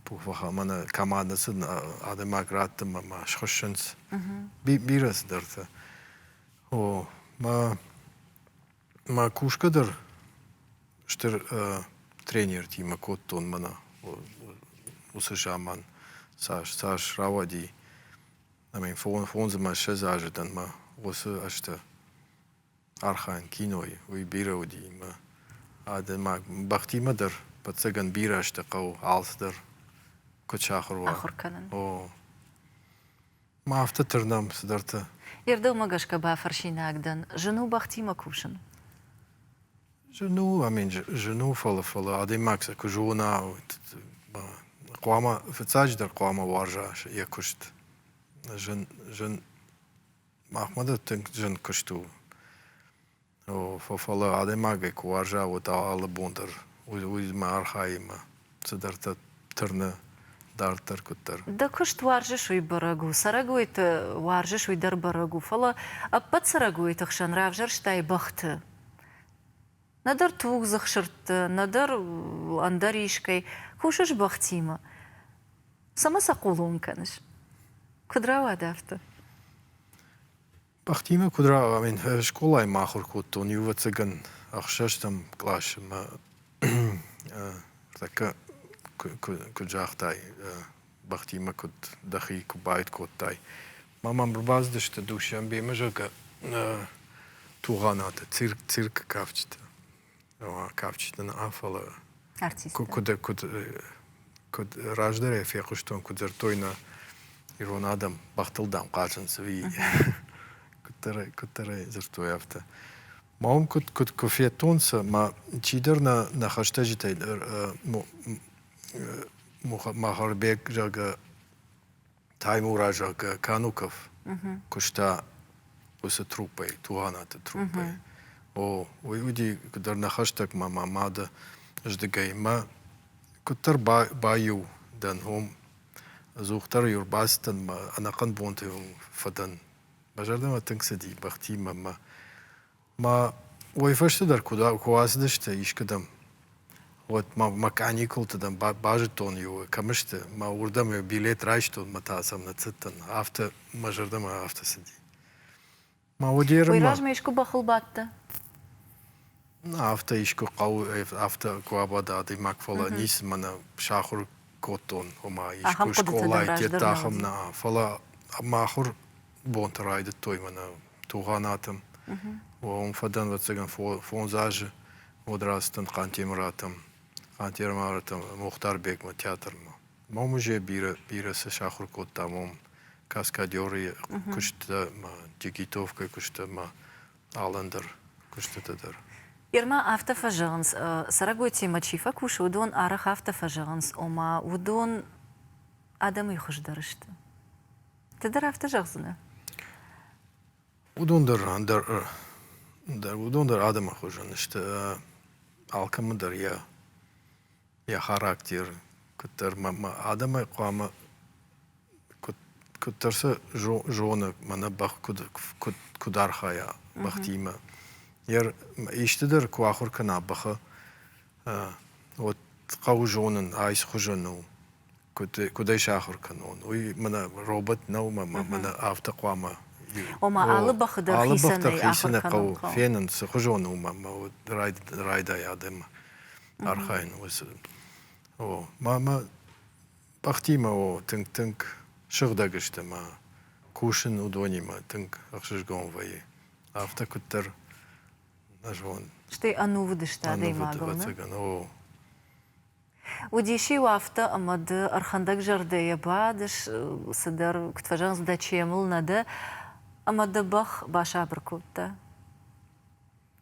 пуфаха мӕнӕ командӕ цы адӕймаг радты мӕ схуыссынц бирӕ цыдӕртӕ о мӕ мӕ кусгӕ дӕр стыр тренертимӕ кодтон мӕнӕ уыцы заман цас цас рауади ӕмӕ фондзмӕ ссӕдз азы дӕн мӕ уыцы ӕзтӕ архайын кинойы, уый бирӕ уыди ӕмӕ адӕймаг бӕхтимӕ дӕр ӕвӕццӕгӕн бирӕ сты хъӕуы алцыдӕр куыд сахуыр уа. Ахуыр кӕнын. О. Ма афтӕ тырнӕм цыдӕртӕ. Йе рдӕгмӕ гӕсгӕ бафӕрсинаг дӕн, зын у бӕхтимӕ кусын? Зын у, амин, зын у, фӕлӕ фӕлӕ адӕймаг сӕ куы зона, хъуамӕ фыццаджыдӕр хъуамӕ уарза йӕ куыст. Зын, зын Махмӕ дӕр тынг зын куыст у. Фӕлӕ адӕймагӕй куы уарза, уӕд алы бон дӕр уыимӕ архайимӕ цыдӕртӕ тырны дарддӕр куыддӕр. Дӕ куыст уарзыс, уый бӕрӕг у. Цӕрӕгойты уарзыс, уый дӕр бӕрӕг у. Фӕлӕ ӕппӕт цӕрӕгойты хсӕн равзӕрстай бӕхты. нӕдӕр тугдзых сырдты, нӕдӕр ӕндӕр искӕй, кусыс бӕхтимӕ. Цӕмӕ сӕ хъулон кӕныс? Куыд рауад афтӕ? Бӕхтимӕ куыд рауагъам? Ин скъолайы ма ахуыр кодтон иувӕццӕгӕн ӕхсӕзтӕм къласы мӕ тӕккӕ куыд загътай, бӕхтимӕ куыд дӕхи куы баид кодтай. Ма мӕм рбацыдысты Душанбемӕ, зӕгъгӕ, Тугъанаты цирк, циркы кафджытӕ. Кафджытӕ нӕ, фӕлӕ артисттӕ. Куыд, куыд, куыд раздӕрӕй фехъуыстон, куыд дзырдтой нӕ ирон адӕм, бӕхтыл, дам, хъазынц, ӕви куыддӕр, куыддӕрӕй дзырдтой афтӕ. Ма уым куыд, куыд, куы федтон сӕ, ма чидӕр нӕ, нӕ хӕстӕджытӕй Махарбег зӕгъгӕ Таймураз зӕгъгӕ Кануков куыста уыцы труппӕй, Тугъанаты труппӕй. О, уый уыди дӕр нӕ хӕстӕгмӕ мӕ мады здыгӕй. Мӕ куыддӕр баиу дӕн, уым ӕдзухдӕр-иу ӕрбацыдтӕн мӕ ӕнӕхъӕн бонты фӕдӕн. Мӕ зӕрдӕмӕ тынг цыди бӕхтимӕ мӕ Мӕ уой фӕсте дӕр куы уадзыдысты искуыдӕм, уӕд мӕ мӕ каникулты дӕм базыдтон иу кӕм сты, мӕ уырдӕм иу билет райстон, мӕ та сӕм ныццыдтӕн, афтӕ мӕ зӕрдӕмӕ афтӕ цыди. Мӕ удӕрмӕ. Уый размӕ искуы бӕхыл бадтӕ? Афтӕ искуы хъӕуы, афтӕ куы абада адӕймаг, фӕлӕ ницы мӕнӕ сахуыр кодтон, ома искуы скъолайы тедта ахӕм нӕ, фӕлӕ мӕ ахуыр бонты райдыдтой мӕнӕ Тугъанаты. Уым фӕдӕн ӕвӕццӕгӕн фондз азы уӕд рацыдтӕн Хъантемыратӕм, Хъантемыратӕм Мухтарбегмӕ театрмӕ. Мӕ музей бирӕ, бирӕ цы сахуыр кодта мӕм каскадеры куысттӕ, дигитовкӕ куысттӕ ӕмӕ алӕндӕр куыстытӕ дӕр. Ирмӕ афтӕ фӕзӕгъынц, цӕрӕгойтимӕ чи фӕкусы, уыдон арӕх афтӕ фӕзӕгъынц, ома уыдон адӕмӕй хуыздӕр сты. Ды дӕр афтӕ зӕгъдзынӕ? Уыдон дӕр ӕндӕр дӕр уыдон дӕр адӕмы хуызӕн сты. Алкӕмӕ дӕр йӕ йӕ характер куыддӕр адӕмӕй хъуамӕ куыддӕр сӕ зоны мӕнӕ бӕх куыд архайа бӕхтимӕ. Исты дӕр куы ахуыр кӕна бӕхы, уӕд хъӕуы зонын айс хуызӕн у. куыд ӕй сахуыр кӕнон, уый мӕнӕ робот нӕу мӕ мӕнӕ афтӕ хъуамӕ Ома, алы бӕхы дӕр алы бӕх дӕр хицӕн хъӕуы фенын, цыхуызон у мӕ райдайы адӕмы архайын уыцы. О, мамӕ бӕхтимӕ о тынг-тынг сыгъдӕг сты мӕ кусын уыдонимӕ тынг ӕхсызгон вӕййы. Афтӕ куыддӕр нӕ зон. Стӕй ӕнувыд сты адӕймагыл. Ӕнувыд, ӕвӕццӕгӕн, о. Уыдис-иу афтӕ, ӕмӕ ды ӕрхӕндӕгзӕрдӕйӕ бадыс, цыдӕр куыд фӕзӕгъынц, дӕ чемыл нӕ дӕ, ӕмӕ дӕ бӕх басабыр кодта.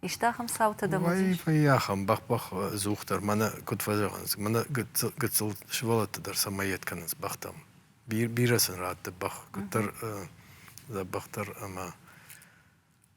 Иста ахӕм цаутӕ дӕм уыдис? Вӕййы ахӕм бӕх-бӕх дзух дӕр, мӕнӕ куыд фӕзӕгъынц, мӕнӕ гыццыл сывӕллӕтты дӕр сӕмӕ йед кӕнынц бӕхтӕм. Бирӕ сын радты бӕх, куыддӕр дзӕбӕхдӕр ӕмӕ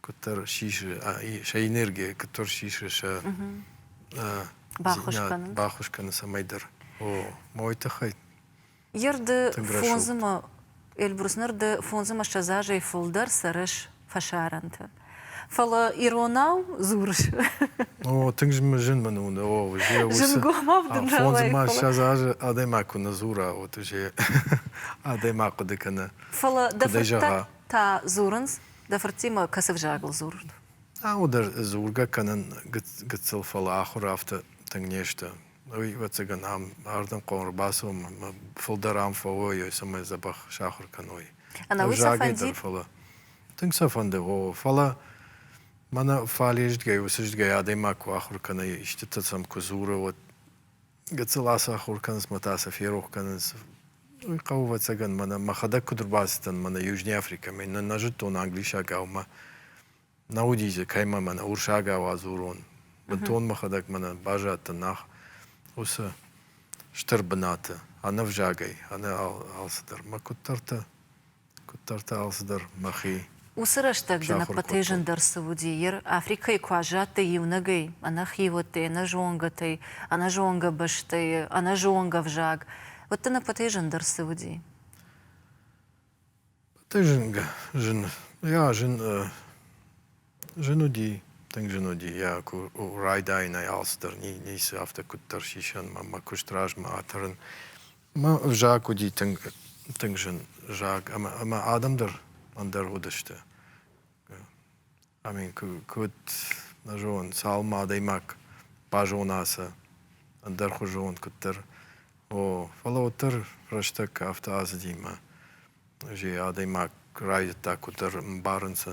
куыддӕр сисы сӕ энергия куыддӕр сисы сӕ баххуыс кӕны баххуыс кӕны цӕмӕйдӕр о мой тыххӕй ерды фондзымы эльбрус ныр ды фондзымӕссӕдз азӕй фылдӕр цӕрыс фӕсарӕнты фӕлӕ иронау дзурыс о тынг зын мын уыны о зынгомассӕдз азы адӕймаг куы нӕ дзура от уже адӕймаг хъуыды кӕны фӕлӕ дӕ фыдтӕ та дзурынц Дӕ фырттимӕ кӕцы взагыл дзурын? Ау, дӕ дзургӕ кӕнын гыццыл, фӕлӕ ахуыр афтӕ тынг не сты. Ӕвӕццӕгӕн ам ардӕм хъӕуы ӕрбацӕуынмӕ фылдӕр ам фӕуой, цӕмӕй дзӕбӕх сахуыр кӕной. Ӕнӕуый сӕ фӕнди? Фӕлӕ тынг сӕ фӕнды, о, фӕлӕ мӕнӕ фале-зтгӕй-уыцызтгӕй адӕймаг куы ахуыр кӕна, истытӕ сӕм куы дзуры, уӕд Гыццыл ацахуыр кӕнынц мӕ та сӕ ферох кӕнынц. Уый хъӕуы ӕвӕццӕгӕн мӕнӕ мӕхӕдӕг куыд ӕрбацыдтӕн мӕнӕ Южный Африкӕмӕ, нӕ нӕ зыдтон англисагау мӕ нӕ уыдис дзы кӕимӕ мӕнӕ урсагау адзурон. Бынтон мӕхӕдӕг мӕнӕ баззадтӕн нах уыцы стыр бынаты, ӕнӕвзагӕй, ӕнӕ алцыдӕр. Мӕ куыддӕртӕ Куыддӕр та алцыдӕр мӕхи. Уыцы рӕстӕг дын ӕппӕтӕй зындӕр цы уыди, ир Африкӕйы куы аззадтӕ иунӕгӕй, ӕнӕхиуӕттӕй, ӕнӕзонгӕтӕй, ӕнӕзонгӕ бӕстӕйы, ӕнӕзонгӕ ӕвзаг, уыд дын ӕппӕтӕй зындӕр цы уыди? Ӕппӕтӕй зынгӕ зын. Jā, зын. Зын уыди, тынг зын уыди. Jā, райдайынӕй алцыдӕр, ницы афтӕ куыддӕр сисӕн мӕ куыст размӕ атӕрын. Зак уыди тынг, тынг зын зак ӕмӕ адӕм дӕр ӕндӕр уыдысты. Амин, куыд нӕ зонын, цалынмӕ адӕймаг базона сӕ ӕндӕрхуызон, куыддӕр. О, фӕлӕ уӕддӕр рӕстӕг афтӕ ацыди мӕ адӕймаг райдыдта куыддӕр ӕмбарын сӕ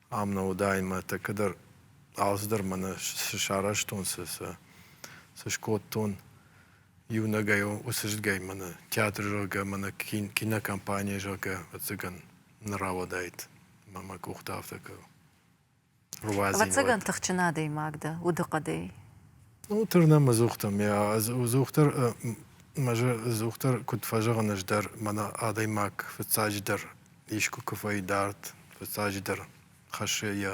ам нӕ уыдаид мӕ тӕккӕ дӕр алцыдӕр мӕнӕ цы сарӕзтон, цы цы скодтон. Иунӕгӕй уыцы зыдгӕй мӕнӕ театр, зӕгъгӕ, мӕнӕ кинокомпани, зӕгъгӕ, ӕвӕццӕгӕн нӕ рауадаид мӕ мӕ къухтӕ афтӕ кӕ руадзин. Ӕвӕццӕгӕн тыхджын адӕймаг дӕ удыхъӕдӕй. Ну, тырнӕм ӕдзухдӕр. Ӕдзухдӕр, мӕ ӕдзухдӕр куыд фӕзӕгъын, ӕз дӕр мӕнӕ адӕймаг фыццаджыдӕр искуы куы фӕидард, фыццаджыдӕр хӕссы йӕ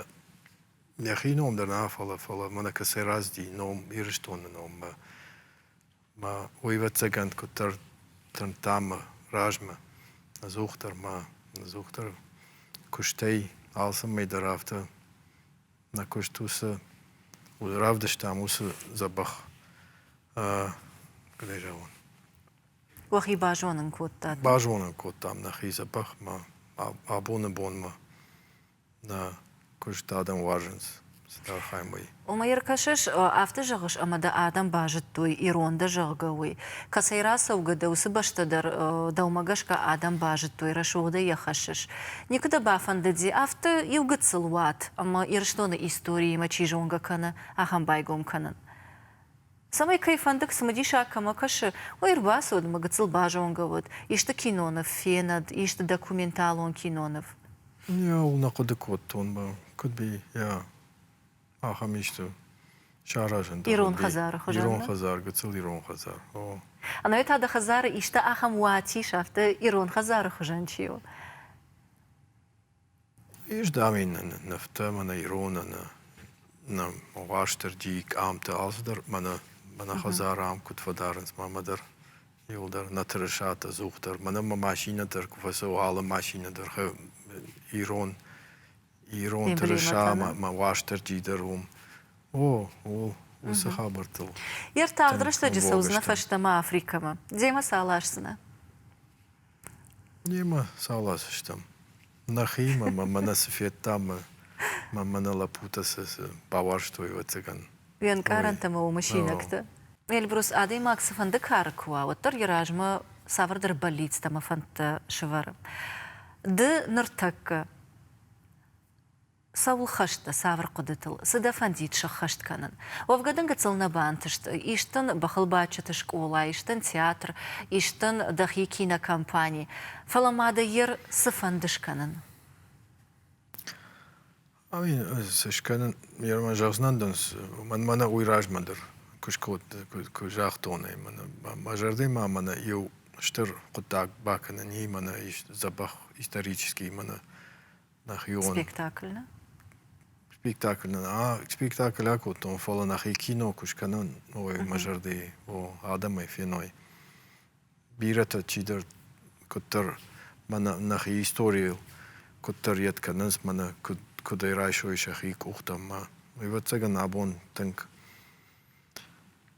нӕхи ном дӕр нӕ, фӕлӕ фӕлӕ мӕнӕ кӕцӕй разди ном Ирыстоны номмӕ. Мӕ уӕйвӕрццагӕн куыддӕр тырныдта мӕ размӕ, ӕдзухдӕр ма ӕдзухдӕр куыстӕй алцӕмӕй дӕр афтӕ нӕ куыст уыцы равдыстам уыцы дзӕбӕх, куыдӕй зӕгъон, Уӕхи базонын кодтат? Базонын кодтам нӕхи дзӕбӕхмӕ. Абоны бонмӕ нӕ куыст адӕм уарзынц цыдӕр хаймӕ. Омӕ ӕркӕсыс, афтӕ зӕгъыс, ӕмӕ дӕ адӕм базыдтой, ирон дӕ, зӕгъгӕ, уый. Кӕцӕй рацӕугӕ дӕ, уыцы бӕстӕ дӕр, дӕумӕ гӕсгӕ, адӕм базыдтой, рӕсугъдӕй йӕ хӕссыс? Никуы дӕ бафӕндыди афтӕ иу гыццыл уат, ӕмӕ Ирыстоны историимӕ чи зонгӕ кӕны, ахӕм байгом кӕнын? Цӕмӕй кӕй фӕндыд, цымыдисаг кӕмӕ кӕсы, уый ӕрбацыуыд мӕ гыццыл базонгӕ уыд, исты киноныв фенӕд, исты документалон киноныв. Иӕу нӕ хъуыды кодтон мӕ, куыд йӕ ахӕм исты саразын. Ирон хӕдзары хуызӕн. Ирон хӕдзар, гыццыл ирон хӕдзар. О. Ӕнӕуи та дӕ хӕдзары исты ахӕм уацис, афтӕ ирон хӕдзары хуызӕн чи у? Ис, дам, ин нывтӕ мӕнӕ ироны нӕ Уастырджийы къамтӕ, алцыдӕр мӕнӕ мӕнӕ хӕдзарӕм куыд фӕдарынц мамӕ дӕр, иуыл дӕр нӕ тырысат ӕдзух дӕр. Мӕнӕ мӕ машинӕ дӕр куы фӕцӕуы, алы машинӕ дӕр ирон ирон тырыса мӕ Уастырджи дӕр уым. О, ууыл уыцы хабӕрттыл. Йе ртагъд рӕстӕджы цӕудзынӕ фӕстӕмӕ Африкӕмӕ. Демӕ сӕ аласдзынӕ? Немӕ цал азы стӕм. Нӕхиимӕ мӕнӕ цы федтам, мӕ мӕнӕ лӕппутӕ цы бауарзтой, ӕвӕццӕгӕн. Уе нкъарӕнтӕ ӕмӕ уымы синӕгтӕ. Эльбрус адӕймаг цыфӕнды кары куы уа, уӕддӕр йӕ размӕ цавӕрдӕр бӕллицтӕ ӕмӕ фӕндтӕ сӕвӕры. Ды ныртӕккӕ Цӕуыл хӕст дӕ цавӕр хъуыдытыл? Цы дӕ фӕндид сӕххӕст кӕнын? Уӕвгӕ дын гыццыл нӕ бантыст. Ис дын бӕхылбадджыты скъола, ис дын театр, ис дын дӕхи кинокомпани. Фӕлӕ ма дӕ йер цы фӕнды скӕнын? Ай цы скӕнын? Йемӕ зӕгъдзынӕн дын, мӕн мӕнӕ уый размӕ дӕр куы скодта, куы загътон ӕй мӕнӕ. Мӕ зӕрдӕмӕ мӕнӕ иу стыр хъуыддаг бакӕнӕн и мӕнӕ ис дзӕбӕх исторический мӕнӕ нӕхион спектакль нӕ спектакль нӕ спектакль акодтон фӕлӕ нӕхи кино куы скӕнӕм новӕй мӕ зӕрдӕйы о адӕмӕй феной бирӕтӕ чидӕр куыддӕр мӕнӕ нӕхи историйыл куыддӕр йед кӕнынц мӕнӕ куыд куыдӕй райсой сӕхи къухтӕ ӕмӕ ӕвӕццӕгӕн абон тынг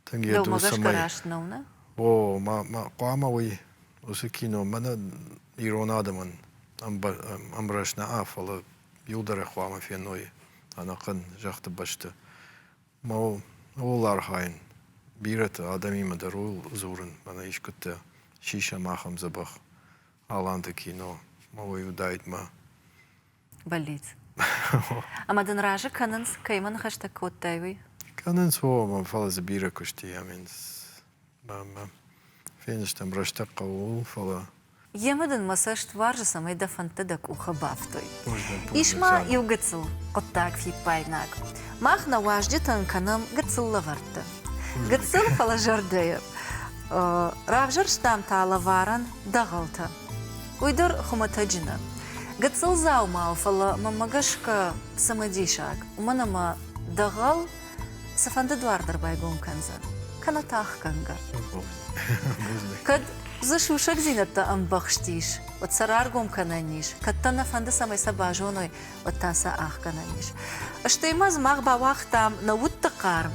Тынг йӕ дурсӕмӕй. О, хъуамӕ уый уыцы кино мӕнӕ ирон адӕмӕн ӕмбрӕс нӕа, фӕлӕ иу дӕр хъуамӕ феной ӕнӕхъӕн зӕххты бӕсты. Ма ууыл архайын, бирӕты адӕмимӕ дӕр ууыл дзурын, мӕнӕ искуыдтӕ сисӕм ахӕм дзӕбӕх Аланты кино, ма уый уыдаид мӕ бӕллиц. Ӕмӕ дын разы кӕнынц, кӕимӕ ныхӕстӕ кодтай, уый? Кӕнынц, о, мӕ фӕлӕ дзы бирӕ куысти амӕнц. Бамӕ, феныстӕм рӕстӕг хъӕуыл, фӕлӕ. Йемӕ дын мӕ цӕст уарзы, цӕмӕй дӕ фӕндтӕ дӕ къухы бафтой. Ис ма иу гыццыл хъуыддаг фиппайнаг. Мах нӕ уазджытӕн кӕнӕм гыццыл лӕвӕрттӕ. Гыццыл, фӕлӕ зӕрдӕйы. Равзӕрстам та лӕварӕн дӕгъӕлтӕ. Уый дӕр хуымӕтӕджы нӕ гыццыл дзаумау, фӕлӕ мӕнмӕ гӕсгӕ цымыдисаг, уымӕн ӕмӕ дӕгъӕл цыфӕнды дуар дӕр байгом кӕндзӕн, кӕнӕ тахгӕнгӕ. Кӕд дзы сусӕгдзинӕдтӕ ӕмбӕхст ис, уӕд сӕ раргом кӕнӕн ис, кӕд дӕ нӕ фӕнды, цӕмӕй сӕ базоной, уӕдта сӕ ӕхгӕнӕн ис. Стӕй ма мах бауагътам нӕ удты хъарм,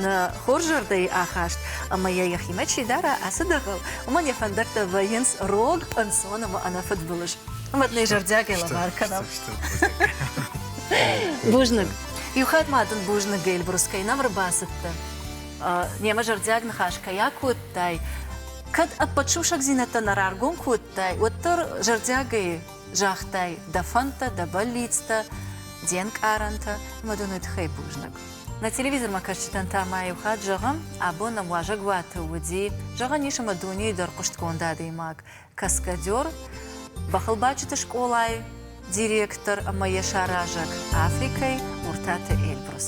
нӕ хорзӕрдӕй ахаст ӕмӕ йӕ йӕхимӕ чи дара ацы дӕгъыл, уымӕн йӕ фӕндӕттӕ вӕййынц рог, ӕнцон ӕмӕ ӕнӕфыдбылыз. Ӕмӕ нӕ зӕрдиагӕй лӕвар кӕнӕм. Бузныг. Иу хатт ма дын бузныг, Эльбрус, кӕй нӕм ӕрбацыдтӕ. Немӕ зӕрдиаг ныхас кӕй акодтай, кӕд ӕппӕт сусӕгдзинӕдтӕ нӕ раргом кодтай, уӕддӕр зӕрдиагӕй Загътай, дӕ фӕндтӕ, дӕ бӕллицтӕ, де нкъарӕнтӕ ӕмӕ дын уый тыххӕй бузныг. Нӕ телевизормӕ кӕсджытӕн та ма иу хатт зӕгъӕм, абон нӕм уазӕгуаты уыди, зӕгъӕн ис ӕмӕ дунейы дӕр хъуыстгонд адӕймаг, каскадер, бӕхылбадджыты скъолайы директор ӕмӕ йӕ саразӕг Африкӕйы Уртаты Эльбрус.